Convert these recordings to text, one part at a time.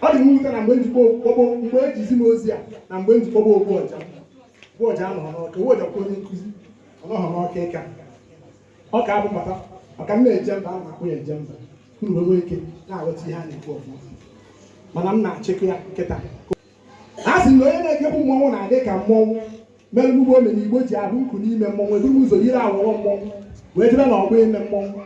ọ dị m nwute na mgbe njikwa okpokpo mgbe e ji zi m ozi a na mgbe m ji kpọba ogbu ọja ogbu ọja anọghị n'ọka ogbu ọja kwa onye nkụzi ọ nọghị n'ọka ịka ọ ka abụ maka maka m na-eje mba a na-akpụ ya eje mba unu wee nwee ike na-aghọta ihe a na-ekwu ọfụma mana m na-achịkọ ya kịta a sị na onye na-ekekwu mmọnwụ na-adị ka mmọnwụ mere mgbe omenigbo ji ahụ nkụ n'ime mmọnwụ eburu m ụzọ yiri awọrọ mmọnwụ wee jebe na ọgbọ ime mmọnwụ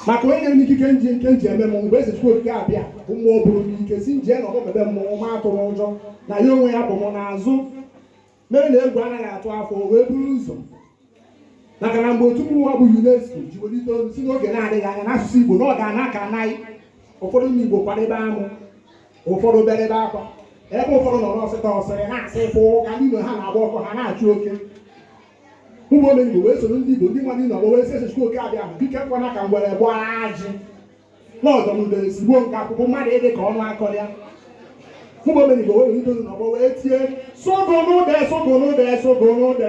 maka onye nyere m ikike m ji nke m ji eme mmọnwụ bụ eze chukwu okike abịama bụ mmụọ bụrụ m ike sị m jee na ọgbọ be mmọnwụ m atụla ụjọ na ya onwe ya bu m n'azụ mere na egwu anaghị atụ afọ wee buru ụzọ maka na mgbe otu mmụọ bụ UNESCO ji welite olu sị n'oge na-adịghị anya na asụsụ Igbo na ọ ga-ana ka naị ụfọdụ ndị Igbo kwaribe amụ ụfọdụ berebe akwa ebe ụfọdụ nọ n'ọsịta ọsịrị na-asị ị fụ ka ndị ụlọ ha na-agba ọkụ ha na-achụ oke ụmụ omenigbo wee soro ndị igbo ndị mmadụ nọ wee sị chukwu oke abịama biko ekwena ka ngwere gbaa ajị n'ọdụ m udere sigbuo nke akụkọ mmadụ ịdị ka ọnụ kọrọ ya ụmụ omenigbo wee welite olu n'ọgbọ wee tie sogo n'ụdọ sogo n'ụdọ sogo n'ụdọ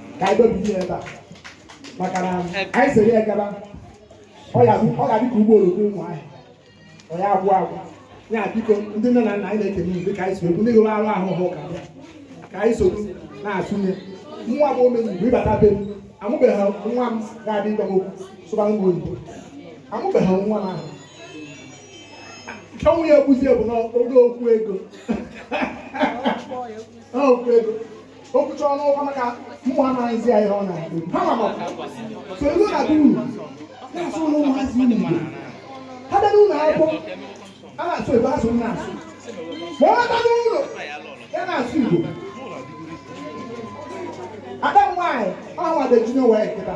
ka anyị dobe ihe ebe a maka na anyị sere ya gaba ọ ga-adị ka ụgbọ oloko ụmụ ahịa ọ ya agwụ agwụ ya biko ndị nne na nna anyị na-ekene unu dịka anyị si ekwu ndị gụrụ akwụkwọ ka bịa ka anyị soro na-atụnye nwa bụ omenigbo ị bata be m amụbeghị nwa m ga-adị ịgwa m okwu sụbara m oyibo amụbeghị nwa m ahụ ọnwụ ya ekwuzie bụ n'oge okwu ego okwu ego o kwucha ọnụ ọkwa maka mụ amaghịzi ya ihe ọ na-ekwu ha ma ma so iwu na duru na-asụrụ ụmụazị unu igbo ha bịa n'ụlọ akwụkwọ a na-asụ ebe asụ m na-asụ ma ọ bata n'ụlọ ya na-asụ igbo ada m nwaanyị ọ na-ede junior waec kịta